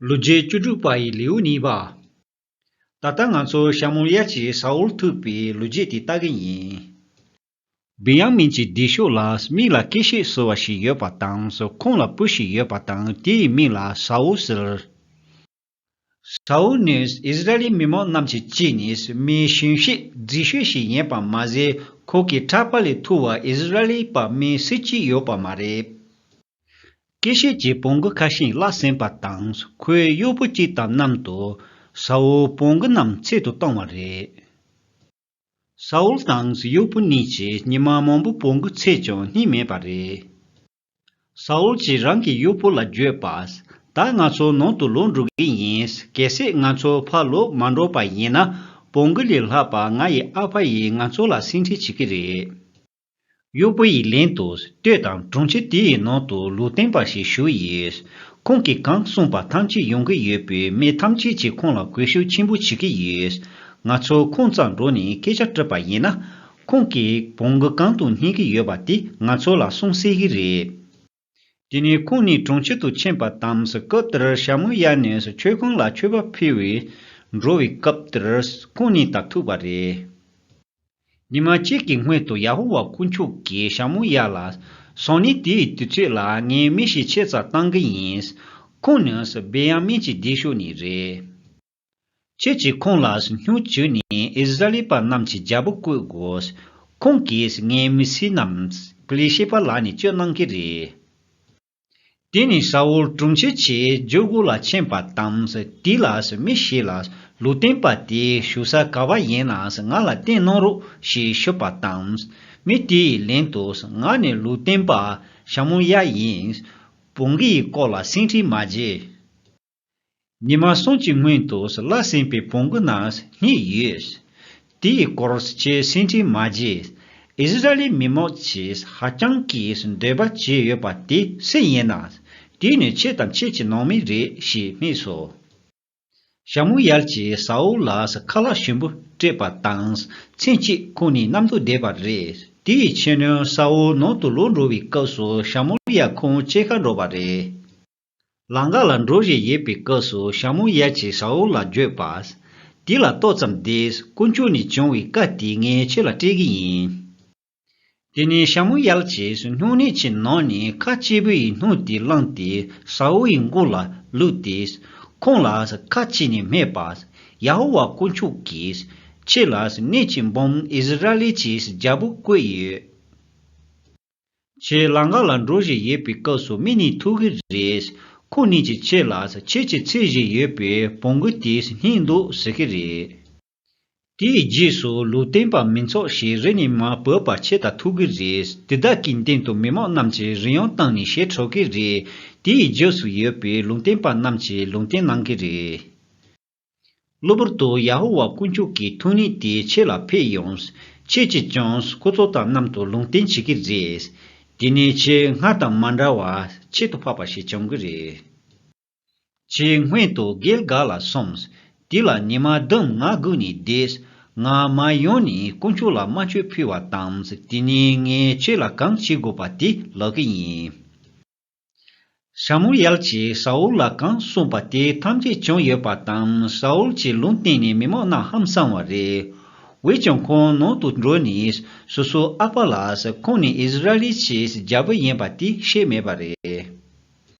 ལོ་བརྒྱད་བཅུ་དྲུག་པ་ཡི་ལེའུ་གཉིས་པ། ད་ལྟ་ང་ཚོ་ཤ་མོང་ཡ་གཅིག་ས་འོག་ཐུག་པའི་ལོ་རྒྱས་དེ་ལྟ་གི་ཡིན། བི་ཡང་མིན་གྱི་སྡེ་ཤོག་ལ་མིག་ལ་སྐེ་ཤེད་གསོ་བ་ཞིག་ཡོད་པ་དང་སོ་ཁོངས་ལ་སྤུ་ཞིག་ཡོད་པ་དང་དེ་ཡི་མིང་ལ་ས་འོག་ཟེར། ས་འོག་ནི་ཨིས་ར་ཨེལ་མི་མང་རྣམས་ཀྱི་གཅིག་ནས་མིའི་ཞིང་གཤེགས་རྫི་ཤོས་ཤིག་ཡིན་པ་མ་ཟད་ཁོ་གི་གྲགས་པ་ལས་ཐུ་བ་ཨིས་ར་ཨེལ་པ་མིའི་སྲིད་སྤྱི་ཡོད་པ་མ་རེད། སྐྱེ་བཤད་ཀྱི་བོང་གུ་ཁ་ཤིང་བརླག་ཟིན་པ་དང་ཁོའི་གཡོག་པོ་གཅིག་དང་གནམ་དུ་ས་འོལ་བོང་གུ་རྣམས་འཚེད་དུ་བཏང་བ་རེད། ས་འོལ་དང་གཡོག་པོ་གཉིས་ཀྱིས་ཉི་མ་མང་པོ་བོང་གུ་འཚེད་ཀྱང་རྙེད་མེད་པ་རེད། ས་འོལ་གྱིས་རང་གི་གཡོག་པོ་ལ་བརྗོད་པ། ད་ང་ཚོ་ནང་དུ་ལོག་འགྲོ་གི་ཡིན་གལ་སྲིད་ང་ཚོ་ཕར་ལོག་མ་འགྲོ་པ་ཡིན་ན་བོང་གུ་ལས་ལྷག་པ་ང་ཡི་ཨ་ཕ་ཡིས་ང་ཚོ་ལ་སེམས་ཁྲལ་བྱེད་ཀྱི་རེད། གཡོག་པོ་ཡི་ལན་དུ་ལྟོས་དང་དྲུང་ཆེ་དེ་ཡི་ནང་དུ་ལུས་བསྟན་པ་ཞིག་ཞུ་ཡིས། ཁོང་གིས་གང་གསུངས་པ་ཐམས་ཅད་ཡོང་གི་ཡོད་པས་མི་ཐམས་ཅད་ཀྱིས་ཁོང་ལ་གུས་ཤུགས་ཆེན་པོ་བྱེད་ཀྱི་ཡོད། ང་ཚོ་ཁོང་ཙང་འགྲོ་ནས་སྐད་ཆ་དྲིས་པ་ཡིན་ན། ཁོང་གིས་བོང་གུ་གང་དུ་སྙེག་གི་ཡོད་པ་དེ་ང་ཚོ་ལ་གསུངས་སྲིད་ཀྱི་རེད། དེ་ནས་ཁོང་ནི་གྲོང་ཁྱེར་དུ་ཕྱིན་པ་དང་སྐབས་དེར་ཞྭ་མོ་གཡར་ནས་མཆོད་ཁང་ལ་མཆོད་པ་ཕུལ་བས། འགྲོ་བའི་སྐབས་དེར་ཁོང་ནི་དག་ཐུག་པ་རེད། ཉི་མ་གཅིག་གི་སྔོན་དུ་ཡ་ཧོ་ཝཱ་དཀོན་མཆོག་གིས་ཞྭ་མོ་གཡར་ལ། སང་ཉིན་དེའི་དུས་ཚོད་ལ་ངས་མི་ཞིག་ཆེད་བཙའ་གཏང་གི་ཡིན། ཁོང་ནི་སྦེ་ཡ་མིན་གྱི་སྡེ་ཤོ་ནས་རེད། ཁྱེད་ཀྱིས་ཁོང་ལ་སྨྱུག་བྱོས་ནས་ཨིས་ར་ལི་པ་རྣམས་ཀྱི་རྒྱལ་པོ་བསྐོས་དགོས། ཁོང་གིས་ངའི་མི་སྲི་རྣམས་པི་ལི་ཤེ་པ་ལག་ནས་གཅོད་གནང་གི་རེད། དེ་ནས་ས་ཨུལ་དྲུང་ཆེ་ཆེ་འཇོལ་སྒོ་ལ་ཕྱིན་པ་དང་དེ་ལ་མི་ཞིག་ལ་ལུས་བསྟན་པ་དེ་བཞུགས་ས་ག་བ་ཡིན་ན་ང་ལ་བསྟན་གནང་རོགས་ཞེས་ཞུས་པ་དང་མི་དེ་ཡི་ལན་དུ་ང་ནི་ལུས་བསྟན་པ་ཞྭ་མོ་གཡའ་ཡིན། བོང་གི་ཡི་སྐོར་ལ་སེང་ཁྲི་མ་བརྗེད། ཉི་མ་སྲོང་གཅིག་སྔོན་དུ་བླ་སེང་པའི་བོང་གུ་ནང་སྙེགས་ཡོད། དེའི་སྐོར་བཅས་སེང་ཁྲིའི་མ་རྗེས་ཨིསི་རཱཨེལི་མི་མང་ཆེས་ཧ་ཅང་གིས་འདོད་པ་བྱས་ཡོད་པ་དེ་སེ་ཡིན་ན། དེ་ནི་ཁྱེད་དང་ཁྱེད་ཀྱི་ནང་མི་རེད་ཞེས་སྨྲས་སོ། ཤ་མུ་ཡལ་གྱིས་ས་ཨུལ་ལ་ཁ་ལག་ཞིམ་པོ་སྤྲད་པ་དང་མཚན་གཅིག་ཁོང་ནི་གནམ་དུ་བསྡད་པ་རེད། དེའི་ཕྱི་ཉིན་ས་ཨུལ་ནང་དུ་ལོག་འགྲོ་བའི་སྐབས་སུ་ཤ་མུ་ཡལ་ཁོང་ཅེས་ཁ་འགྲོ་བ་རེད། ལང་ག་ལ་འགྲོ་བཞིན་ཡོད་པའི་སྐབས་སུ་ཞྭ་མོ་ཡལ་ཅིག་ས་འོག་ལ་འགྱོད་པ། དེ་ལ་ཏོག་ཙམ་བསྡད། དཀོན་མཆོག་ནས་བྱུང་བའི་བཀའ་དེ་ངས་ཁྱོད་ལ་སྤྲད་གི་ཡིན། དེ་ནས་ཞྭ་མོ་ཡལ་ཅིག་སྣུམ་སྣེ་ཆེ་ནང་ནས་ཁ་གཅིག་པུ་ཡི་སྣུམ་དེ་བླངས་ཏེ་ས་འོག་ཡི་མགོ་ལ་བླུགས་ཏེ། ཁོང་ལ་ཁ་གཅིག་ནས་སྨྲས་པ། ཡ་ཧོ་ཝཱ་དཀོན་མཆོག་གིས། ཁྱེད་ལ་སྣེ་གཅིག་འབུམ་ཨིསི་རཱལ་ལའི་ཆེས་རྒྱལ་པོ་བསྐོས་ཡོད། ཁྱེད་ལང་ག་ལ་འགྲོ་བཞིན་ཡོད་པའི་སྐབས་སུ་མི་གཉིས་ཐུག་གི་རེད། ཁོ་གཉིས་ཀྱིས་ཁྱེད་ལ་ཁྱེད་ཀྱིས་འཚེ་བཞིན་ཡོད་པའི་བོང་གུ་དེས་སྙིང་འདོད་ཟེར་གི་རེད། དེའི་རྗེས་སུ་ལུས་རྟེན་པ་མི་འཚོགས་ཞེས་རེ་ནས་མ་བོས་པར་ཁྱེད་ལྟར་ཐུག་གི་རེད། དེ་དག་གི་སྟེང་དུ་མི་མང་རྣམས་ཀྱིས་རིན་ཡང་བཏང་ནས་ཞེ་ཁྲོ་གི་རེད། དེའི་རྗེས་སུ་ཡོད་པའི་ལུང་བསྟན་པ་རྣམས་ཀྱིས་ལུང་བསྟན་གནང་གི་རེད། གློ་བུར་དུ་ཡ་ཧོ་ཝཱ་དཀོན་མཆོག་གི་ཐུགས་ནུས་དེ་ཁྱེད་ལ་འཕེལ་ཡོང། ཁྱེད་ཀྱིས་ཀྱང་སྐུ་ཚོགས་དང་གནམ་དུ་ལུང་བསྟན་བྱེད་ཀྱི་རེད། དེ་ནས་ཁྱེད་སྔར་དང་མ་འདྲ་བར་ཁྱད་དུ་འཕགས་པ་ཞིག་བྱུང་གི་རེད། ཁྱེད་སྔོན་དུ་གྷིལ་གཱལ་ལ་སོང། དེ་ལ་ཉི་མ་ལྡུམ་ང་སྒུག་ནས་བསྡད། ང་མ་ཡོང་ནས་དཀོན་མཆོག་ལ་སྨྲ་བརྗོད་ཕུལ་བ་དང་དེ་ནས་ངས་ཁྱེད་ལ་གང་བྱེད་དགོས་པ་དེ་ལོག་གི་ཡིན། ཤ་མུ་ཡལ་གྱིས་ཤ་འུལ་ལ་གང་གསུངས་པ་དེ་ཐམས་ཅད་བྱུང་ཡོད་པ་དང་ཤ་འུལ་གྱི་ལུང་བསྟན་ནས་མི་མང་རྣམས་ཧམ་སངས་བ་རེད། འོད་ཀྱང་ཁོང་ནང་དུ་འགྲོས་ནས་སོ་སོ་ཨག་པ་ལགས་ཁོང་ནི་ཨིས་ར་ཨེལ་གྱི་རྒྱལ་པོ་ཡིན་པ་དེ་ཤེས་མེད་པ་རེད།